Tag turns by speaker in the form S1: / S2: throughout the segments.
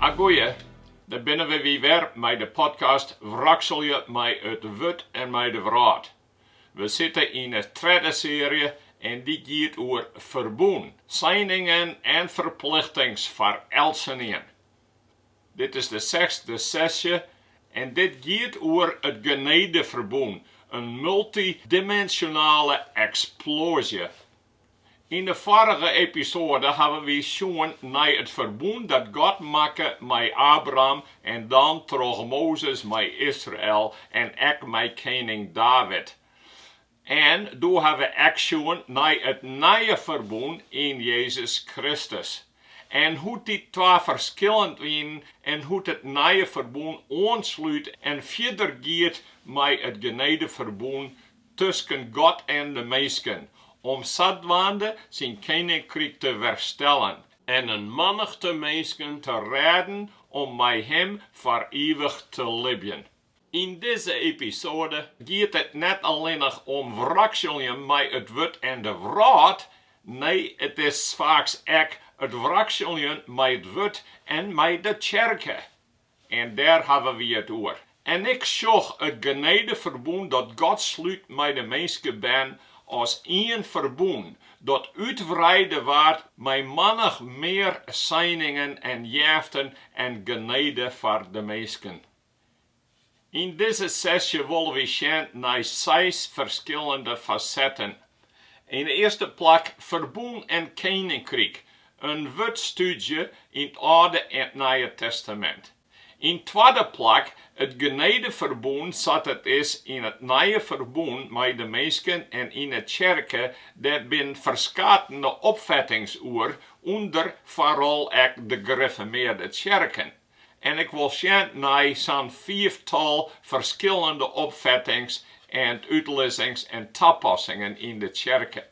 S1: A goeie, dêr binne wy wer mei de podcast Wrakselje mei it wurd en mei de wrâld. We sitte yn 'e tredde searje en dy giet oer ferbûn, seiningen en ferplichtings foar eltsenien. Dit is de sechsde sesje en dit giet oer it genedeferbûn, in multidimensionale eksploazje Yn de foarige episoade hawwe wy sjoen nei it ferbûn dat God makke mei Abraham en dan troch Mozes mei Israel en ek mei kening David. En doe ha we ek sjoen nei it nije ferbûn yn Jezus Kristus. En hoe't dy twa ferskillend wienen en hoe't it nije ferbûn oanslút en fierder giet mei it genedeferbûn tusken God en de minsken, om sadwaande syn keninkryk te werstellen en in mannichte minsken te rêden om mei him foar ivich te libjen. Yn dizze episode giet it net allinnich om wrakseljen mei it wurd en de wrâld, nee, it is faaks ek it wrakseljen mei it wurd en mei de tsjerke. En dêr hawwe wy it oer. En ik sjoch it genedeferbûn dat God slút mei de minskebern as ien ferbûn, dat útwreide waard mei mannich mear seiningen en jaften en genede foar de minsken. Yn dizze sesje wolle wy sjen nei seis ferskillende fasetten. Yn it earste plak Ferbûn en Keninkryk, in wurdstúdzje yn 't Alde en 't Nije Testamint. Yn 't twadde plak it genedeferbûn sa't it is yn it Nije Ferbûn mei de minsken en yn 'e tsjerke, dêr binne ferskatene opfettings oer ûnder foaral ek de grifformearde tsjerken. En ik wol sjen nei sa'n fiiftal ferskillende opfettings en útlizzings en tapassingen yn de tsjerke.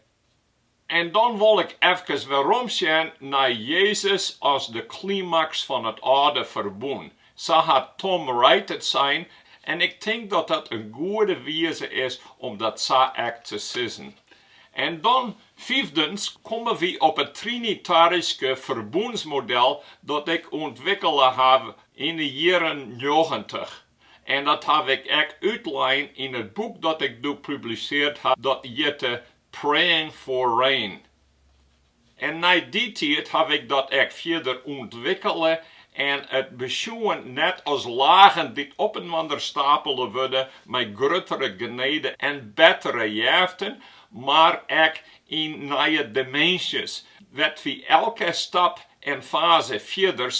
S1: En dan wol ik efkes weromsjen nei Jezus as de klimaks fan it Alde Ferbûn, sa hat Tom Wright it sein, en ik tink dat dat in goede wize is om dat sa ek te sizzen. En dan fiifdens komme wy op it trinitaryske ferbûnsmodel dat ik ûntwikkele ha yn 'e jierren njoggentich. En dat haw ik ek útlein yn it boek dat ik doe publiseard ha, dat hjitte Praying for Rain. En nei dy tiid haw ik dat ek fierder ûntwikkele en it besjoen net as lagen dy't opinoar stapele wurde mei gruttere genede en bettere jeften, mar ek yn nije diminzjes, wêr't wy elke stap en faze fierders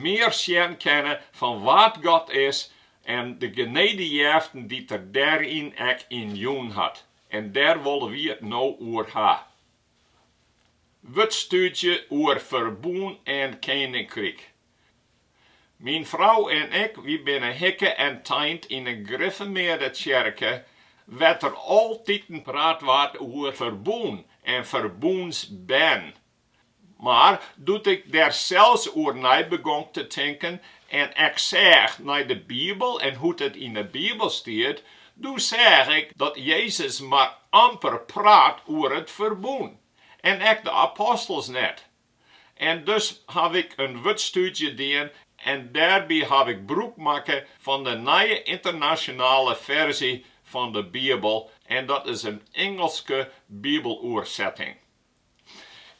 S1: mear sjen kinne fan wa't God is en de genede jeften dy't Er dêryn ek yn jûn hat. En dêr wolle wy it no oer ha. Wurdstúdzje oer ferbûn en keninkryk. Myn frou en ik, wy binne hikke en teind yn 'e griffermearde tsjerke, wêr't der altiten praat waard oer ferbûn en ferbûnsbern. Mar doe't ik dêr sels oer nei begong te tinken en ek seach nei de Bibel en hoe't it yn 'e Bibel stiet, Doe seach ik dat Jezus mar amper praat oer it ferbûn, en ek de apostels net. En dus haw ik in wurdstúdzje dien en dêrby haw ik brûk makke fan de Nije Ynternasjonale Ferzje fan de Bibel, en dat is in Ingelske Bibeloersetting.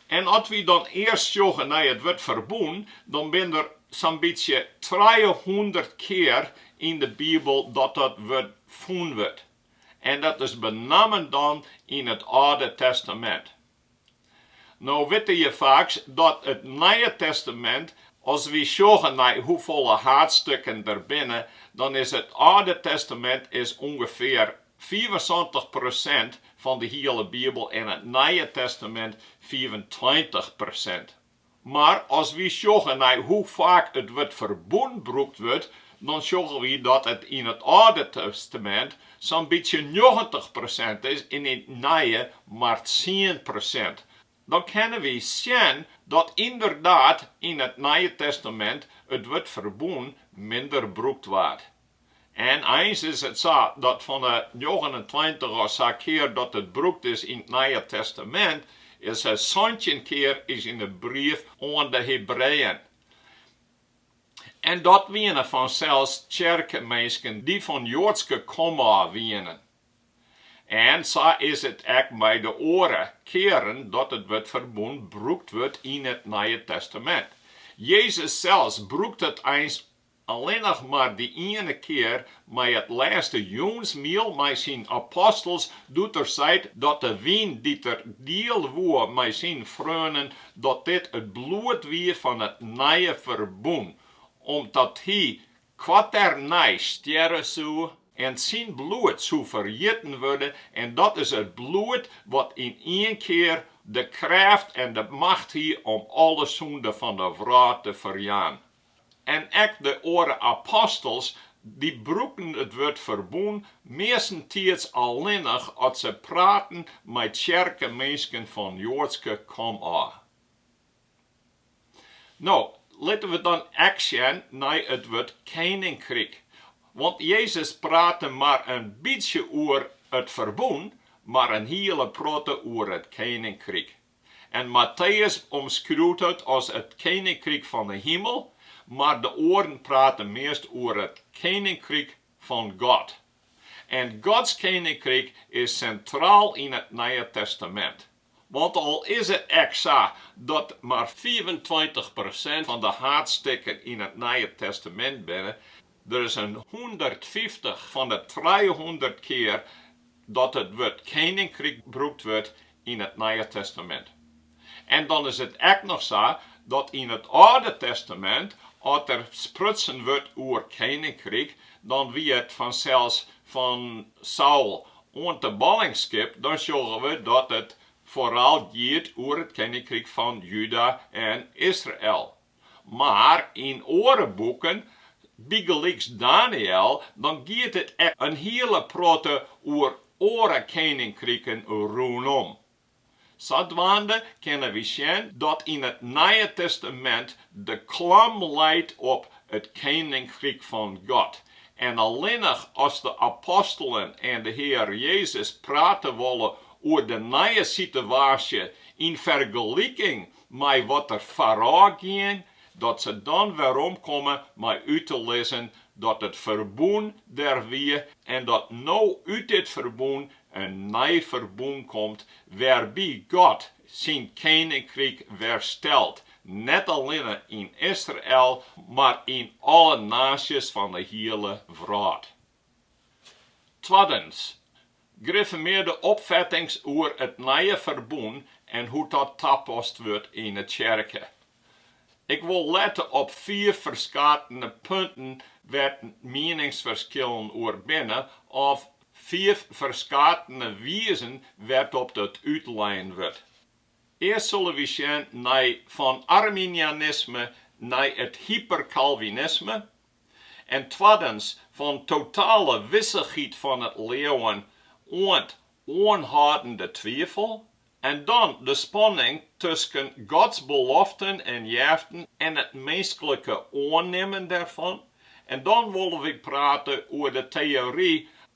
S1: En as wy dan earst sjogge nei it wurd ferbûn, dan binne der sa'n bytsje trijehûndert kear yn de Bibel dat dat wurd fûn wurdt. En dat is benammen dan yn it Alde Testamint. No witte je faaks dat it Nije Testamint, as wy sjogge nei hoefolle haadstukken der binne, dan is it Alde Testamint is ûngefear Fiifensantich persint fan de hiele Bibel en it Nije Testamint fiifentweintich persint. Mar as wy sjogge nei hoe faak it wurd ferbûn brûkt wurdt, dan sjogge wy dat it yn it Alde Testamint sa'n bytsje njoggentich persint is en yn it Nije mar tsien persint. Dan kinne wy sjen dat ynderdaad yn it Nije Testamint it wurd ferbûn minder brûkt waard. En eins is it sa dat fan 'e njoggenentweintich of sa kear dat it brûkt is yn it Nije Testamint, is it santjin kear is yn 'e brief oan de Hebreeën. En dat wiene fansels tsjerkeminsken dy't fan Joadske komôf wienen. En sa is it ek mei de oare kearen dat it wurd ferbûn brûkt wurdt yn it Nije Testamint. Jezus sels brûkt it eins Allinnich mar dy iene kear mei it lêste jûnsmiel mei syn apostels, doe't er seit dat de wyn dy't er diele woe mei syn freonen, dat dit it bloed wie fan it nije ferbûn, om't hy koarternij stjerre soe, en syn bloed soe ferjitten wurde, en dat is it bloed wat yn ien kear de krêft en de macht hie om alle sûnde fan de wrâld te ferjaan. En ek de oare apostels, dy brûkten it wurd ferbûn meastentiids allinnich as se praten mei tsjerkeminsken fan joadske komôf. No, litte we dan ek sjen nei it wurd keninkryk. Want Jezus prate mar in bytsje oer it ferbûn, mar in hiele protte oer it keninkryk. En Matteus omskriuwt it as it keninkryk fan 'e himel, mar de oaren prate meast oer it keninkryk fan God. En Gods keninkryk is sintraal yn it Nije Testamint. Want al is it ek sa dat mar fiifentweintich persint fan de haadstikken yn it Nije Testamint binne, Der is in hûndertfyftich fan de trijehûndert kear dat it wurd keninkryk brûkt wurdt yn it Nije Testamint. En dan is it ek noch sa dat yn it Alde Testamint, as der sprutsen wurdt oer keninkryk, dan wie it fansels fan Saul oant de ballingskip, dan sjogge we dat it foaral giet oer it keninkryk fan Juda en Israel. Mar yn oare boeken, bygelyks Daniël, dan giet it ek in hiele protte oer oare keninkriken rûnom. Sadwaande kinne wy sjen dat yn it Nije Testamint de klam leit op it keninkryk fan God en allinnich as de apostelen en de Hear Jezus prate wolle oer de nije sitewaasje yn fergeliking mei wat der foarôf gien, dat se dan werom komme mei út te lizzen dat it ferbûn der wie en dat no út dit ferbûn in nij ferbûn komt wêrby't God syn keninkryk werstelt, net allinne yn Israel, mar yn alle naasjes fan 'e hiele wrâld. Twaddens, griffermearde opfettings oer it nije ferbûn en hoe't dat tapast wurdt yn 'e tsjerke. Ik wol lette op fiif ferskatene punten wêr't mieningsferskillen oer binne of fiif ferskatene wizen wêrtop it útlein wurdt. Earst sille wy sjen nei fan arminianisme nei it hyperkalvinisme, en twaddens fan totale wissichheid fan it leauwen oant oanhâldende twifel, en dan de spanning tusken Gods beloften en jeften en it minsklike oannimmen dêrfan, en dan wolle wy prate oer de teory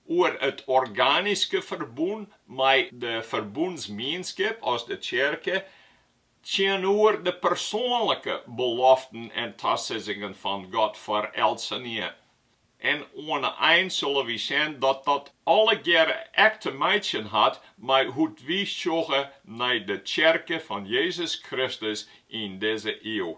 S1: oer it organiske ferbûn mei de ferbûnsmienskip as de tsjerke. tsjinoer de persoanlike beloften en tasizzingen fan God foar eltsenien. En oan 'e ein sille wy sjen dat dat allegearre ek te meitsjen hat mei hoe't wy sjogge nei de Tsjerke fan Jezus Kristus yn dizze iuw.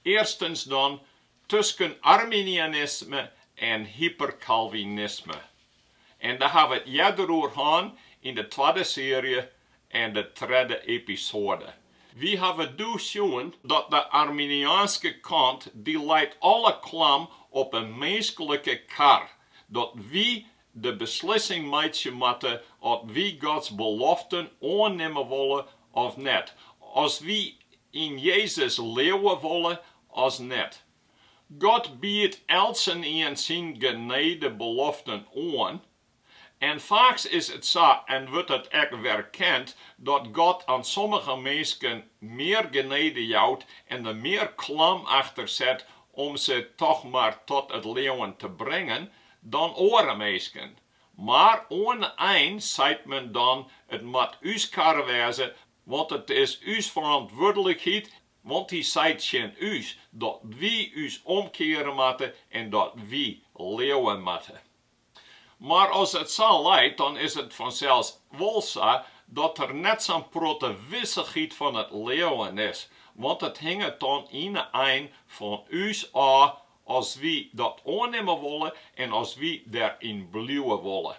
S1: Earstens dan, tusken Arminianisme en Hyperkalvinisme. En dêr ha we it earder oer hân yn de twadde searje en de tredde episoade. Wy hawwe doe sjoen dat de Arminiaanske kant dy leit alle klam op 'e minsklike kar, dat wy de beslissing meitsje moatte of wy Gods beloften oannimme wolle of net, as wy yn Jezus leauwe wolle as net. God biedt eltsenien syn genedebeloften oan. En faaks is it sa en wurdt it ek werkend dat God oan sommige minsken mear genede jout en der mear klam achter set om se toch mar tot it leauwen te bringen, dan oare minsken, mar oan de ein seit men dan it moat ús karre wêze, want it is ús ferantwurdlikheid, want Hy seit tsjin ús dat wy ús omkeare moatte en dat wy leauwe moatte. Mar as it sa leit, dan is it fansels wol sa dat der net sa'n protte wissichheid fan it leauwen is, want it hinget dan yn de ein fan ús ôf as wy dat oannimme wolle en as wy dêryn bliuwe wolle.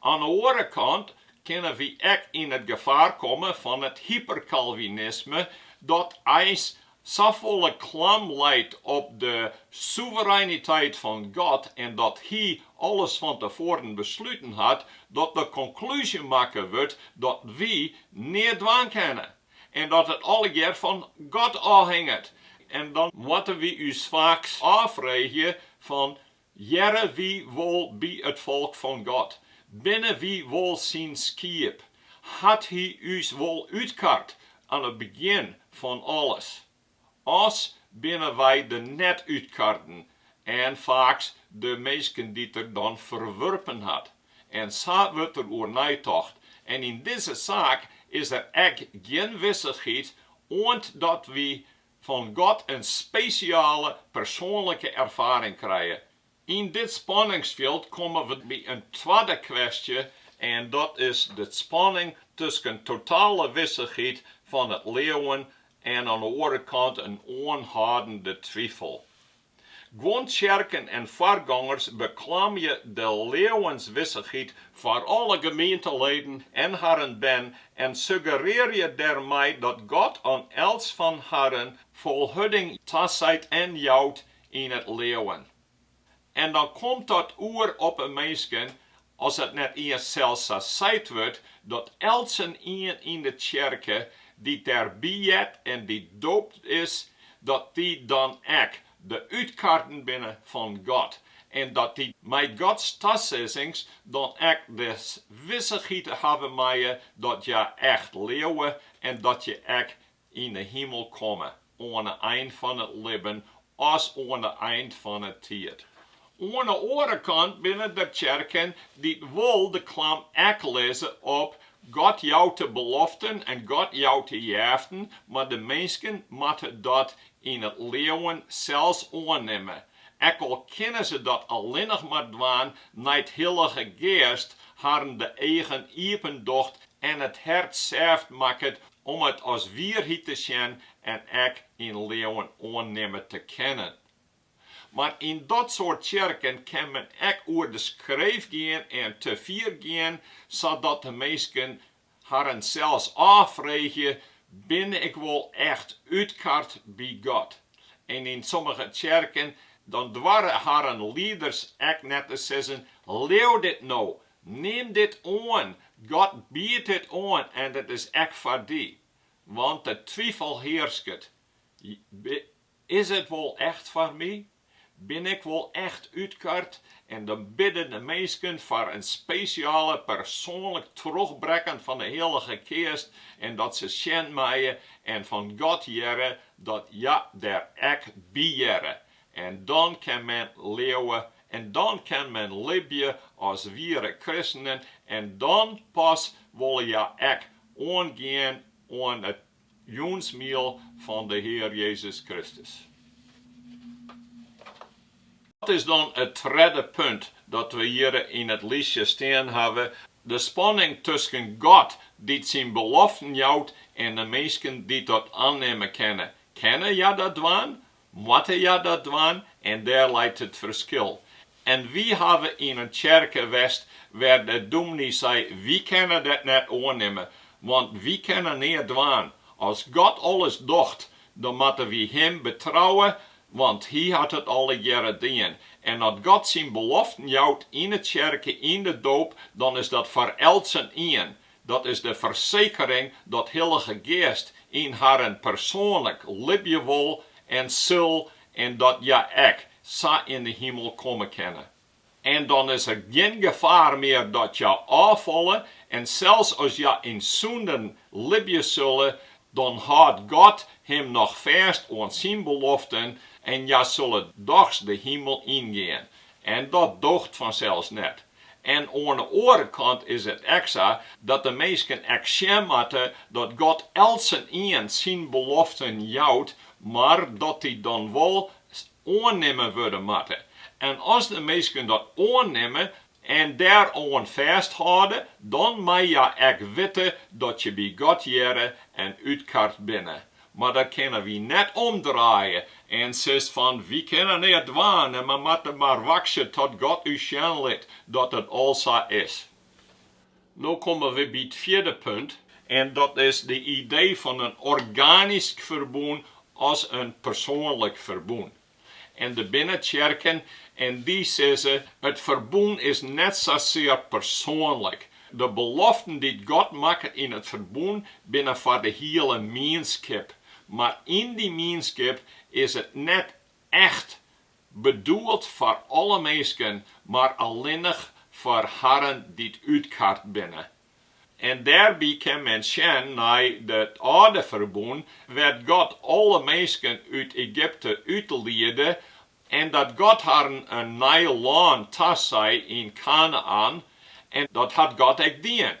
S1: Oan 'e oare kant kinne wy ek yn it gefaar komme fan it hyperkalvinisme, dat eins safolle klam leit op de soevereiniteit fan God en dat Hy alles fan tefoaren besluten hat, dat de konklúzje makke wurdt dat wy neat dwaan kinne. en dat it allegear fan God ôfhinget, en dan moatte wy ús faaks ôffreegje fan, Hearre, hearre wy wol by it folk fan God? Binne wy wol syn skiep? Hat hy ús wol útkard aan it begjin fan alles? As binne wy de net útkarden en faaks de minsken dy't er dan ferwurpen hat. En sa wurdt der oer neitocht. En yn dizze saak is der ek gjin wissichheid oant dat wy fan God in spesjale persoanlike erfaring krije, Yn dit spanningsfjild komme we by in twadde kwestje en dat is de spanning tusken totale wissichheid fan it leauwen en oan 'e oare kant in oanhâldende twifel. Guon tsjerken en foargongers beklamje de leauwenswissichheid foar alle gemeenteleden en harren bern en suggerearje dêrmei dat God oan elts fan harren folhurding taseit en jout yn it leauwen. En dan komt dat oer op 'e minsken as it net iens sels sa seit wurdt dat eltsenien yn 'e tsjerke dy't dêrby heart en dy't doopt is, dat dy dan ek de útkarden binne fan God en dat dy mei Gods tasizzings dan ek de wissichheid hawwe meie dat hja echt leauwe en dat hja ek yn 'e himel komme, oan 'e ein fan it libben as oan 'e ein fan 'e tiid. Oan 'e oare kant binne der tsjerken dy't wol de klam ek lizze op, God jout de beloften en God jout de jeften, mar de minsken moatte dat yn it leauwen sels oannimme, ek al kinne se dat allinnich mar dwaan nei't de Hillige Geast harren de eagen iepen docht en it hert sêft makket Om it as wierheid te sjen en ek yn leauwen oannimme te kinnen. Mar yn dat soart tsjerken kin men ek oer de skreef gean en te fier gean, sadat de minsken harren sels ôffreegje, Bin ik wol echt útkard by God? En yn sommige tsjerken dan doare harren lieders ek net te sizzen, Leau dit no, Nim dit oan, God biedt dit oan en dat is ek foar dy. Want de twifel hearsket, Is it wol echt foar my? Bin ik wol echt útkard? En dan bidde de minsken foar in spesjale persoanlik trochbrekken fan de Hillige Geast en dat se sjen meie en fan God hearre dat hja der ek by hearre. En dan kin men leauwe en dan kin men libje as wiere kristenen en dan pas wolle hja ek oangean oan it jûnsmiel fan de Hear Jezus Kristus. Dat is dan it tredde punt dat we hjir yn it listje stean hawwe, de spanning tusken God dy't syn beloften jout en de minsken dy't dat annimme kinne. Kinne hja dat dwaan? Moatte hja dat dwaan en dêr leit it ferskil. En wy hawwe yn in tsjerke west wêr't de dûmny sei, wy kinne dat net oannimme, want wy kinne neat dwaan. As God alles docht, dan moatte wy Him betrouwe, want Hy hat it allegearre dien. En as God syn beloften jout yn 'e tsjerke, yn de doop, dan is dat foar eltsenien. Dat is de fersekering dat Hillige Geast yn harren persoanlik libje wol en sil en dat hja ek sa yn de himel komme kinne. En dan is der gjin gefaar mear dat hja ôffalle en sels as hja yn sûnden libje sille, dan hâldt God him noch fêst oan syn beloften en hja sille dochs de himel yngean. En dat doocht fansels net. En oan 'e oare kant is it ek sa dat de minsken ek sjen moatte dat God eltsenien syn beloften jout, mar dat dy dan wol oannimme wurde moatte. En as de minsken dat oannimme en dêroan fêsthâlde, dan mei hja ek witte dat je by God hearre en útkard binne. Mar dat kinne wy net omdraaie. En sis fan, wy kinne neat dwaan en we moatte mar wachtsje tot God ús sjen lit dat it al sa is. No komme we by it fjirde punt. En dat is de idee fan in organysk ferbûn as in persoanlik ferbûn. en der binne tsjerken en dy sizze, It ferbûn is net sasear persoanlik. De beloften dy't God makket yn it ferbûn binne foar de hiele mienskip, mar yn dy mienskip is it net echt bedoeld foar alle minsken, mar allinnich foar harren dy't útkard binne. En dêrby kin men sjen nei it âlde ferbûn, wêr't God alle minsken út Egypte útliede, en dat God harren in nij lân tasei yn Kanaän, en dat hat God ek dien.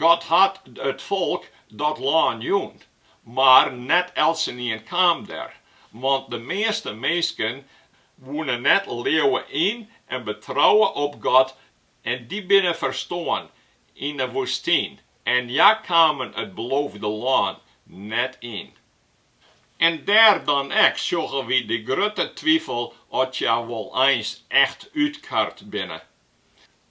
S1: God hat it folk dat lân jûn, mar net eltsenien kaam dêr, want de measte minsken woene net leauwe yn en betrouwe op God En dy binne ferstoarn yn 'e woestyn, en hja kamen it beloofde lân net yn. En dêr dan ek sjogge wy de grutte twifel oft hja wol eins echt útkard binne.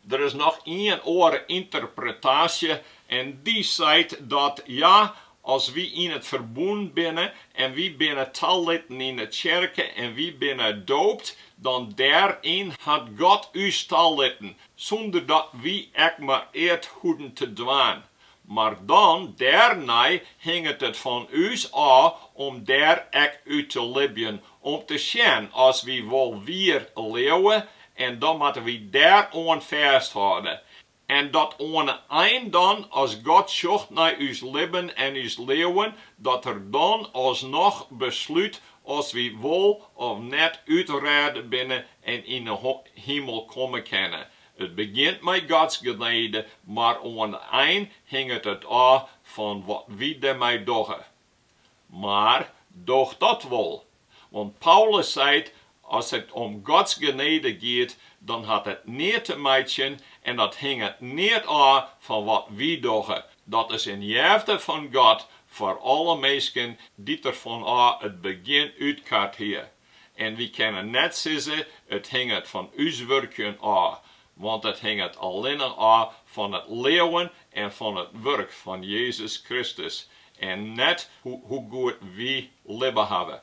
S1: Der is noch ien oare ynterpretaasje, en dy seit dat hja As wy yn it ferbûn binne en wy binne talitten yn 'e tsjerke en wy binne doopt, dan dêryn hat God ús talitten, sûnder dat wy ek mar eat hoeden te dwaan. Mar dan dêrnei hinget it fan ús ôf om dêr ek út te libjen, om te sjen as wy wol wier leauwe, en dan moatte wy dêroan fêsthâlde. En dat oan 'e ein dan, as God sjocht nei ús libben en ús leauwen, dat Er dan alsnoch beslút as wy wol of net útrêde binne en yn 'e himel komme kinne. It begjint mei Gods genede, mar oan 'e ein hinget it ôf fan wat wy dêrmei dogge. Mar doch dat wol, want Paulus seit, As it om Gods genede giet, dan hat it neat te meitsjen en dat hinget neat ôf fan wat wy dogge, dat is in jefte fan God foar alle minsken, dy't Er fanôf it begjin útkard hie. En wy kinne net sizze, it hinget fan ús wurkjen ôf, want it hinget allinne ôf fan it leauwen en fan it wurk fan Jezus Kristus, en net hoe goed wy libbe hawwe.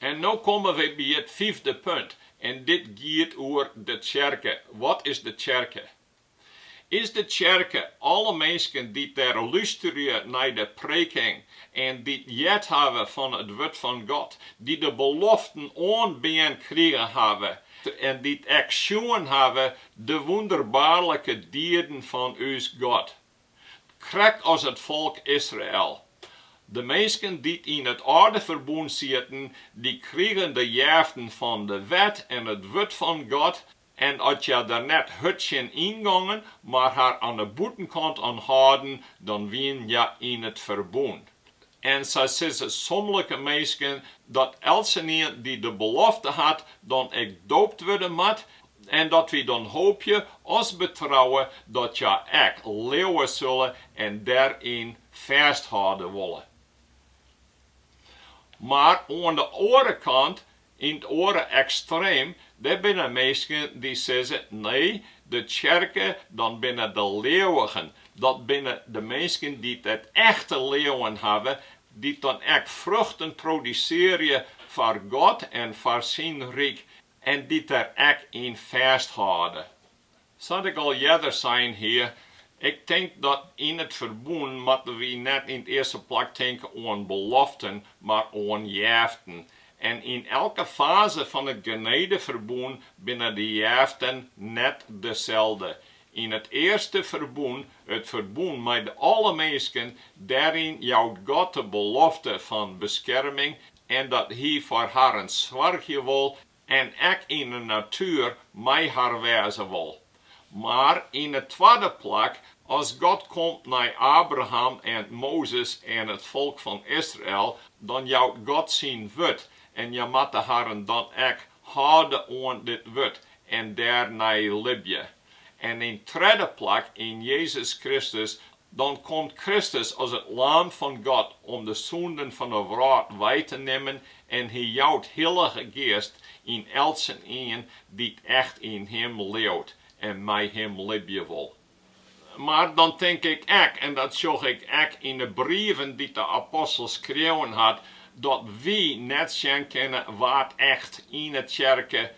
S1: En no komme wy by it fyfde punt, en dit giet oer de tsjerke. Wat is de tsjerke? Is de tsjerke alle minsken dy't dêr lusterje nei de preking en dy't heard hawwe fan it wurd fan God, dy't de beloften oanbean krigen hawwe en dy't ek sjoen hawwe de wûnderbaarlike dieden fan ús God, krekt as it folk Israel. De minsken dy't yn it âlde ferbûn sieten, dy krigen de jeften fan de wet en it wurd fan God, En as hja der net hurd tsjin yngongen, mar har oan 'e bûtenkant oan hâlden, dan wienen hja yn it ferbûn. En sa sizze somlike minsken dat eltsenien dy't de belofte hat, dan ek doopt wurde moat, en dat wy dan hoopje, as betrouwe, dat hja ek leauwe sulle en dêryn fêsthâlde wolle. Mar oan 'e oare kant Yn it oare ekstreem, dêr binne minsken dy't sizze, nee, de tsjerke, dat binne de leauwigen, dat binne de minsken dy't it echte leauwen hawwe, dy't dan ek fruchten produsearje foar God en foar syn ryk en dy't der ek yn fêsthâlde. Sa't ik al earder sein hie, ik tink dat yn it ferbûn moatte wy net yn 't earste plak tinke oan beloften, mar oan jeften. En yn elke faze fan it genedeferbûn binne de jeften net deselde. Yn it earste ferbûn, it ferbûn mei alle minsken, dêryn jout God de belofte fan beskerming en dat Hy foar harren soargje wol en ek yn 'e natuer mei har wêze wol. Mar yn 'e twadde plak, as God komt nei Abraham en Mozes en it folk fan Israel, dan jout God syn wurd en hja moatte harren dan ek hâlde oan dit wurd en dêrnei libje. En yn 't tredde plak yn Jezus Kristus, dan komt Kristus as it Laam fan God om de sûnden fan de wrâld wei te nimmen en Hy jout Hillige Geast yn eltsenien dy't echt yn Him leaut en mei Him libje wol. Mar dan tink ik ek, en dat sjoch ik ek yn de brieven dy't de apostel skreaun hat, dat wy net sjen kinne wa't echt yn 'e tsjerke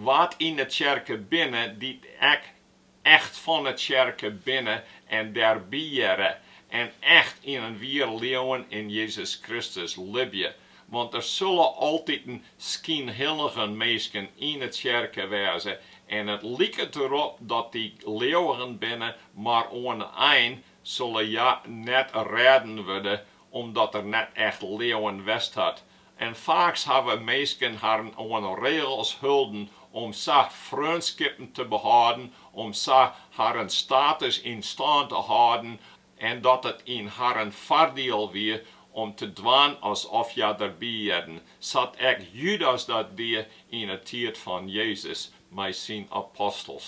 S1: Wa't yn 'e tsjerke binne, dy't echt fan 'e tsjerke binne en dêrby hearre en echt yn in wier leauwen yn Jezus Kristus libje. Want der sulle altyd skynhillige minsken yn 'e tsjerke wêze en it liket derop dat dy leauwigen binne, mar oan 'e ein sulle hja net rêden wurde, omdat der net echt leauwen west hat, En faaks hawwe minsken harren oan regels holden om sa freonskippen te behâlden, om sa harren status yn stân te hâlden en dat it yn harren foardiel wie om te dwaan asof hja derby hearden, sa't ek Judas dat die yn 'e tiid fan Jezus mei syn apostels.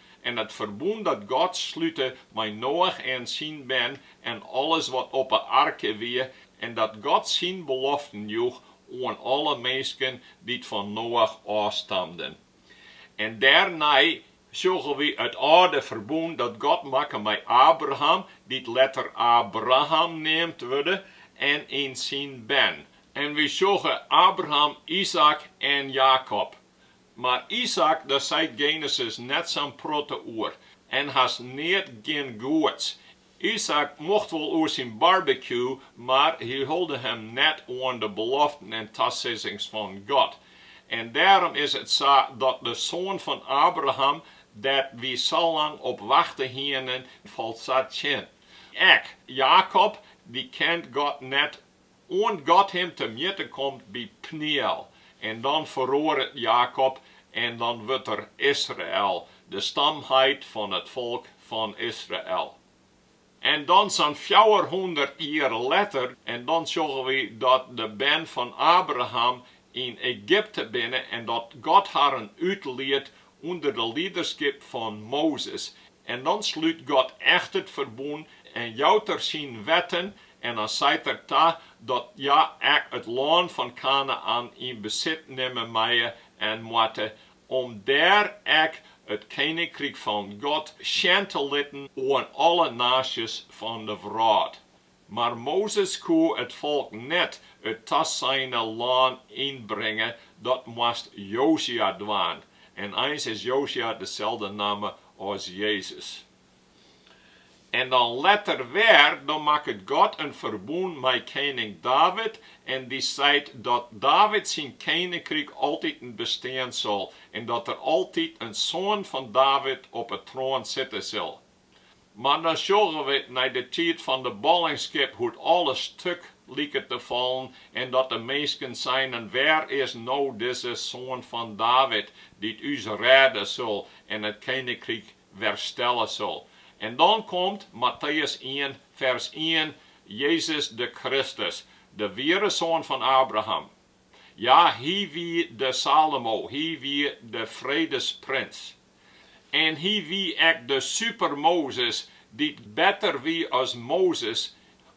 S1: en it ferbûn dat God slute mei Noach en syn bern en alles wat op 'e arke wie, en dat God syn beloften joech oan alle minsken dy't fan Noach ôfstamden. En dêrnei sjogge wy it âlde ferbûn dat God makke mei Abram, dy't letter Abraham neamd wurde, en syn bern. En wy sjogge Abraham, Izaäk en Jakob, Mar Izaäk der seit Genesis net sa'n protte oer en hast neat gjin goeds. Izaäk mocht wol oer syn barbecue, mar hy hulde him net oan de beloften en tasizzings fan God. En dêrom is it sa dat de soan fan Abraham, dêr't wy salang op wachte hienen, falt sa tsjin. Ek Jakob, dy kent God net Oant God him te mjitte komt by Pniel, en dan feroaret Jakob, en dan wurdt er Israel, de stamheit fan it folk fan Israel. En dan sa'n fjouwerhûndert jier letter, en dan sjogge wy dat de bern fan Abraham yn Egypte binne en dat God harren útliedt ûnder de liederskip fan Mozes, en dan slút God echt it ferbûn en jout Er Syn wetten en dan seit Er ta dat hja ek it lân fan Kanaän yn besit nimme meie en moatte, om dêr ek it keninkryk fan God sjen te litten oan alle naasjes fan de wrâld. Mar Mozes koe it folk net it taseine lân ynbringe, dat moast Josja dwaan, en eins is Josja deselde namme as Jezus. En dan letter wer, dan makket God in ferbûn mei kening David en dy seit dat David syn keninkryk altiten bestean sil en dat der altyd in soan fan David op 'e troan sitte sil. Mar dan sjogge we nei de tiid fan de ballingskip hoe't alles stuk liket te fallen en dat de minsken seinen, Wêr is no dizze soan fan David, dy't ús rêde sil en it keninkryk werstelle sil? En dan komt, Matteüs ien, fers ien, Jezus de Kristus, de wiere soan fan Abraham. Ja, hy wie de Salomo, hy wie de fredesprins. En hy wie ek de superMozes, dy't better wie as Mozes,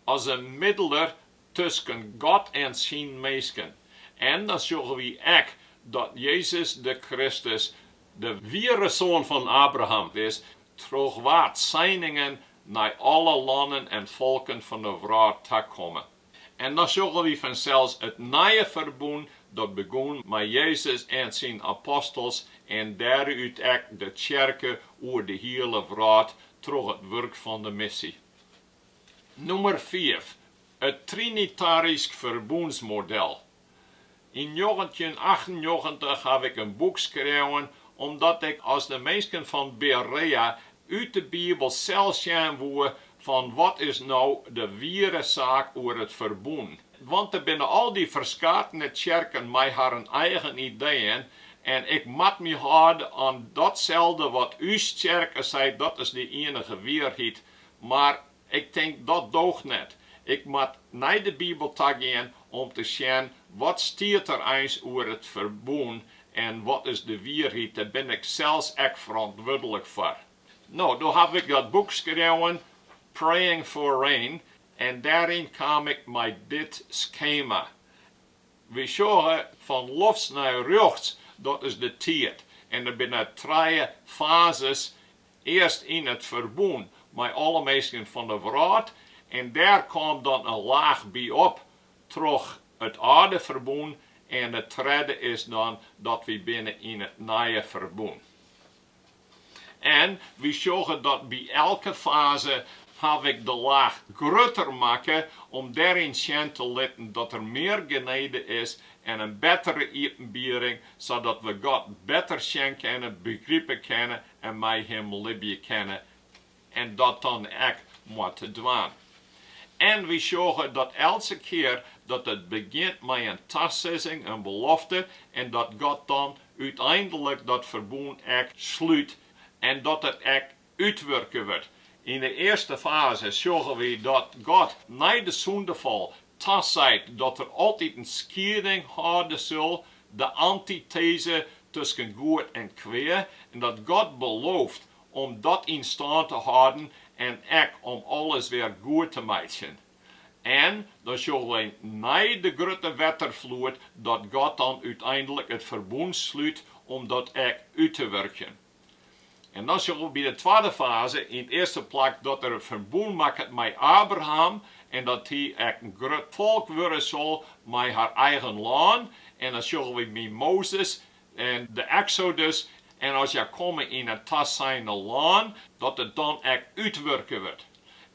S1: as in middeler tusken God en syn minsken. En dan sjogge wy ek dat Jezus de Kristus de wiere soan fan Abraham is, troch wa't seiningen nei alle lannen en folken fan 'e wrâld takomme. En dan sjogge wy fansels it nije ferbûn dat begûn mei Jezus en syn apostels en dêrút ek de tsjerke oer de hiele wrâld troch it wurk fan de missie. Nûmer fiif, it trinitarysk ferbûnsmodel. Yn njoggentjinachtennjoggentich haw ik in boek skreaun omdat ik, as de minsken fan Berea, út de Bibel sels sjen woe fan wat is no de wiere saak oer it ferbûn. Want der binne al dy ferskatene tsjerken mei harren eigen ideeën en ik moat my hâlde oan datselde wat ús tsjerke seit, dat is de ienige wierheid. Mar Ik tink dat doocht net. Ik moat nei de Bibel tagean om te sjen wat stiet der eins oer it ferbûn en wat is de wierheid. Dêr bin ik sels ek ferantwurdlik foar. No, doe haw ik dat boek skreaun, Praying for Rain, en dêryn kaam ik mei dit skema. Wy sjogge fan lofts nei rjochts, dat is de tiid, en der binne trije fazes Earst yn it ferbûn mei alle minsken fan de wrâld en dêr kaam dan in laach by op troch it âlde ferbûn en it tredde is dan dat wy binne yn it nije ferbûn. En wy sjogge dat by elke faze haw ik de laach grutter makke om dêryn sjen te litten dat der mear genede is en in bettere iepenbiering sadat we God better sjen kinne, begripe kinne en mei him libje kinne en dat dan ek moatte dwaan. En wy sjogge dat eltse kear dat it begjint mei in tasizzing, in belofte, en dat God dan úteinlik dat ferbûn ek slút en dat it ek útwurke wurdt. Yn de earste faze sjogge wy dat God nei de sûndefal Taseit dat der altyd in skieding hâlde sil, de antiteze tusken goed en kwea, en dat God belooft om dat yn stân te hâlden en ek om alles wer goed te meitsjen. En dan sjogge wy nei de grutte wetterfloed dat God dan úteinlik it ferbûn slút om dat ek út te wurkjen. En dan sjogge we by de twadde faze yn it earste plak dat er in ferbûn makket mei Abraham en dat hy ek in grut folk wurde sil mei har eigen lân. En dan sjogge wy by Mozes en de Eksodus en as hja komme yn it taseine lân, dat it dan ek útwurke wurdt.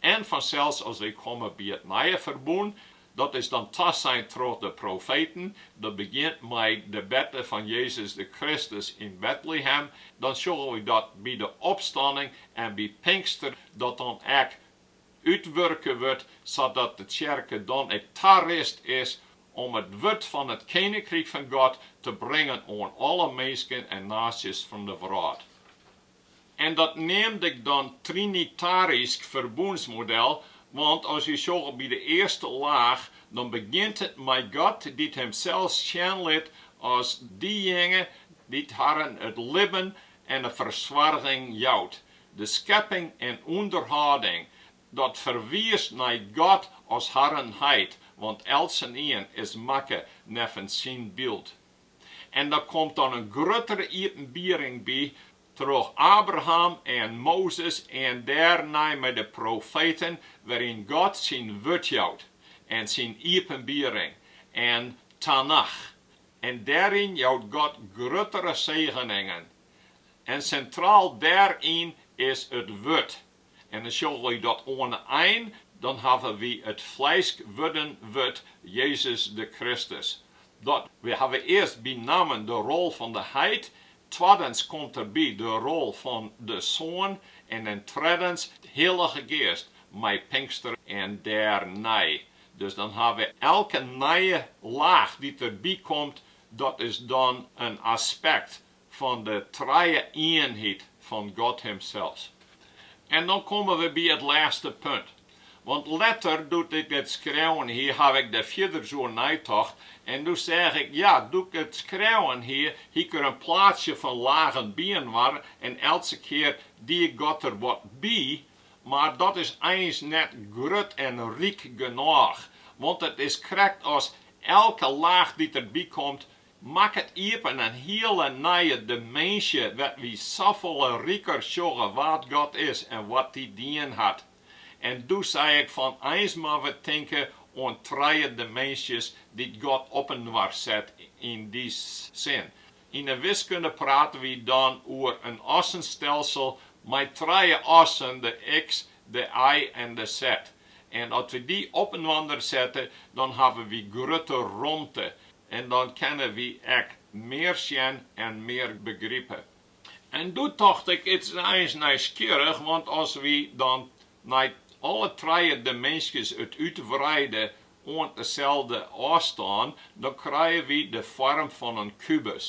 S1: En fansels as we komme by it nije ferbûn, Dat is dan tasein troch de profeten, dat begjint mei de berte fan Jezus de Kristus yn Betlehem, dan sjogge wy dat by de opstanning en by Pinkster dat dan ek útwurke wurdt, sadat de tsjerke dan ek tarist is om it wurd fan it Keninkryk fan God te bringen oan alle minsken en naasjes fan de wrâld. En dat neamde ik dan trinitarysk ferbûnsmodel, want as wy sjogge by de earste laach, dan begjint it mei God dy't himsels sjen lit as diejinge dy't harren it libben en de fersoarging jout, de skepping en ûnderhâlding. Dat ferwiist nei God as harren Heit, want eltsenien is makke neffens syn byld. En der komt dan in gruttere iepenbiering by troch Abraham en Mozes en dêrnei mei de profeten, wêryn God syn wurd jout en syn iepenbiering yn Tanach. En dêryn jout God gruttere segeningen. En sintraal dêryn is it wurd. En dan sjogge wy dat oan 'e ein, dan hawwe wy it flesk wurden wurd, Jezus de Kristus. Dat, wy hawwe earst benammen de rol fan de Heit, twaddens komt der by de rol fan de Soan en dan trettens de Hillige Geast mei Pinkster en dêrnei. Dus dan ha we elke nije laach dy't der by komt, dat is dan in aspekt fan de Trije-ienheid fan God Himsels. En dan komme we by it lêste punt. Want letter, doe't ik it skreaun hie, haw ik der fierders oer neitocht, en doe seach ik, ja, doe't ik it skreaun hie, hie ik der in plaatsje fan lagen byinoar, en eltse kear die God der wat by, mar dat is eins net grut en ryk genôch, want it is krekt as elke laach dy't der bykomt, Makket iepen in hiele nije diminzje wêr't wy safolle riker sjogge wa't God is en wat Er dien hat. En doe sei ik fan eins moatte we tinke oan trije diminzjes dy't God opinoar set yn dy sin. Yn 'e wiskunde prate wy dan oer in assenstelsel mei trije assen, de iks, de y en de zet. En as we dy opinoar sette, dan hawwe wy grutte romte. En dan kinne wy ek mear sjen en mear begripe. En doe tocht ik, it is eins nijsgjirrich, want as wy dan nei alle trije diminzjes it útwreide oant deselde ôfstân, dan krije wy de foarm fan in kubus.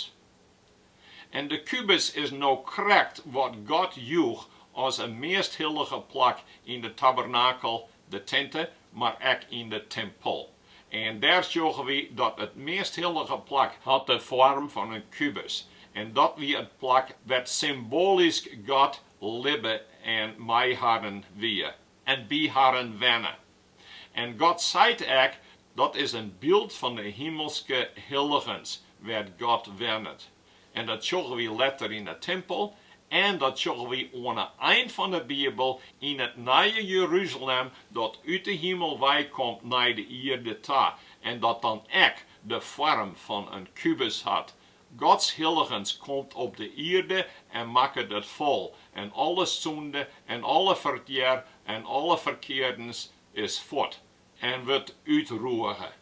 S1: En de kubus is no krekt wat God joech as in measthillige plak yn de tabernakel, de tinte, mar ek yn de timpel. En dêr sjogge wy dat it measthillige plak hat de foarm fan in kubus, en dat wie it plak wêr't symboalysk God libbe en mei harren wie en by harren wenne. En God seit ek, Dat is in byld fan de himelske hilligens, wêr't God wennet. En dat sjogge wy letter yn 'e timpel en dat sjogge wy oan 'e ein fan 'e Bibel yn it nije Jeruzalem dat út 'e himel weikomt nei de ierde ta en dat dan ek de foarm fan in kubus hat, Gods hilligens komt op de ierde en makket it fol, en alle sûnde en alle fertear en alle ferkeardens is fuort en wurdt útrûge.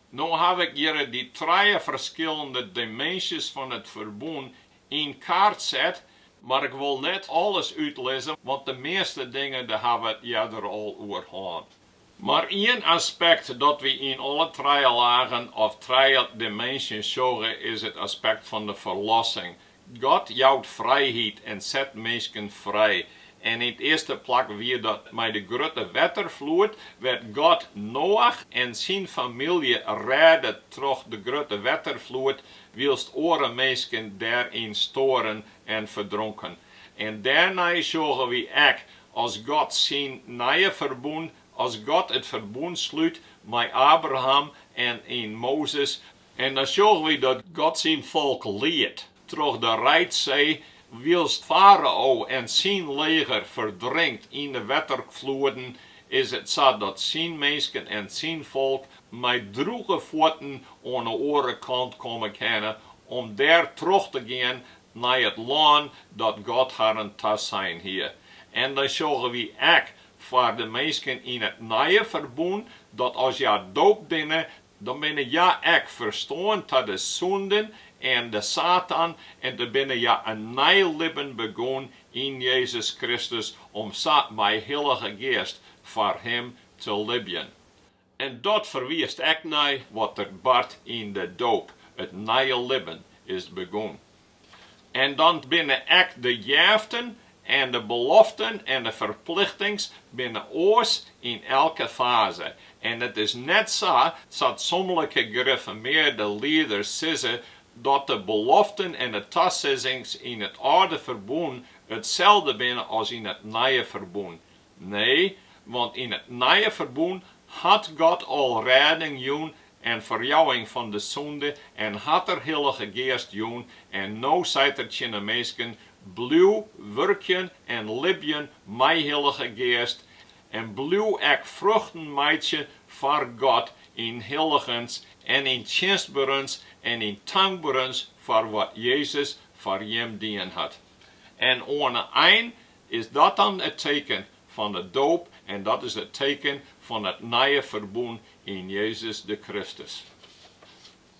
S1: No haw ik hjirre dy trije ferskillende dimensies fan it ferbûn yn kaart set, mar ik wol net alles útlizze, want de measte dingen dêr hawwe wy it earder al oer hân. Mar ien aspekt dat wy yn alle trije lagen of trije dimensies sjogge is it aspekt fan de ferlossing. God jout frijheid en set minsken frij. En yn 't earste plak wie dat mei de grutte wetterfloed, wêr't God Noach en syn famylje rêde troch de grutte wetterfloed, wylst oare minsken dêryn stoaren en ferdronken. En dêrnei sjogge wy ek As God syn nije ferbûn, as God it ferbûn slút mei Abraham en yn Mozes. En dan sjogge wy dat God syn folk liedt troch de Reidsee, wylst Farao en syn leger ferdrinkt yn de wetterfloeden, is it sa dat syn minsken en syn folk mei drûge fuotten oan 'e oare kant komme kinne om dêr troch te gean nei it lân dat God harren tasein hie, en dan sjogge wy ek foar de minsken yn it Nije Ferbûn, dat as hja doopt binne, dan binne hja ek ferstoarn ta de sûnden en de Satan, en dan binne hja in nij libben begûn yn Jezus Kristus, om sa mei Hillige Geast foar Him te libjen. En dat ferwiist ek nei wat der bart yn de doop, it nije libben is begûn. En dan binne ek de jeften en de beloften en de ferplichtings binne oars yn elke faze. En it is net sa as 't somlike grifformearde lieders sizze dat de beloften en de tasizzings yn it âlde ferbûn itselde binne as yn it nije ferbûn. Nee, want yn it Nije Ferbûn hat God al rêding jûn en ferjouwing fan de sûnde en hat Er Hillige Geast jûn en no seit Er tsjin 'e minsken, Bliuw wurkjen en libjen mei Hillige Geast en bliuw ek fruchten meitsje foar God yn hilligens en yn tsjinstberens en yn tankberens foar wat Jezus foar jim dien hat. En oan 'e ein Is dat dan it teken fan de doop en dat is it teken fan it nije ferbûn yn Jezus de Kristus?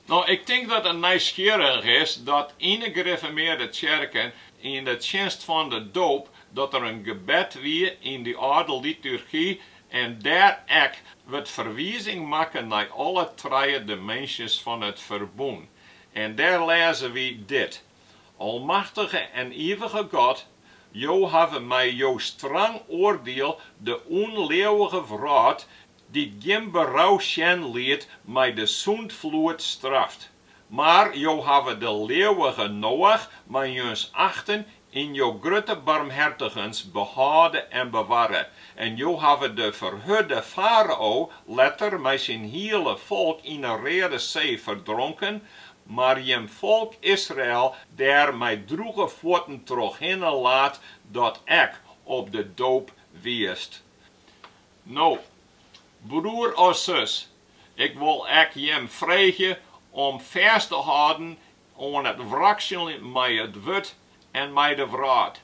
S1: No, ik tink dat it nijsgjirrich is dat yn de Grifformearde Tsjerken yn de tsjinst fan de doop dat der in gebed wie yn dy âlde liturgy en dêr ek wurdt ferwizing makke nei alle trije dimensies fan it ferbûn en dêr lêze wy dit, Almachtige en ivige God, Jo hawwe mei Jo strang oardiel de ûnleauwige wrâld, dy't gjin berou sjen liet, mei de sûndfloed straft. Mar Jo hawwe de leauwige Noach mei syn achten yn Jo grutte barmhertigens behâlde en bewarre, en Jo hawwe de ferhurde farao letter mei syn hiele folk yn 'e Reade See ferdronken, Mar jim folk Israel dêr mei droege fuotten trochhinne laat, dat ek op de doop wiest. No, broer of sus, ik wol ek jim freegje om fêst te hâlden oan it wraksel mei it wurd en mei de wrâld.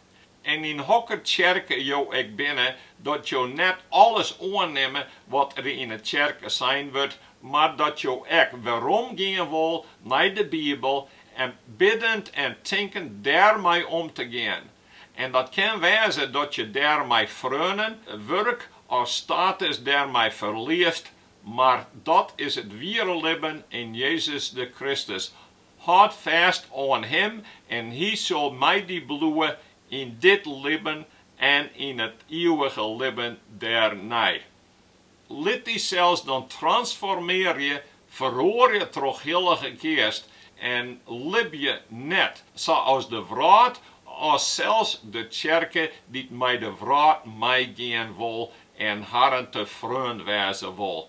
S1: En yn hokker tsjerke jo ek binne, dat jo net alles oannimme wat der yn 'e tsjerke sein wurdt, mar dat jo ek weromgean wol nei de Bibel en biddend en tinkend dêrmei om te gean. En dat kin wêze dat je dêr mei freonen, wurk of status dêrmei ferliest, mar dat is it wiere libben yn Jezus de Kristus, Hâld fêst oan Him en Hy sil mei dy bliuwe yn dit libben en yn it ieuwige libben dêrnei. Lit dysels dan transformearje, feroarje troch Hillige Geast en libje net sa as de wrâld, as sels de tsjerke dy't mei de wrâld meigean wol en harren te freon wêze wol.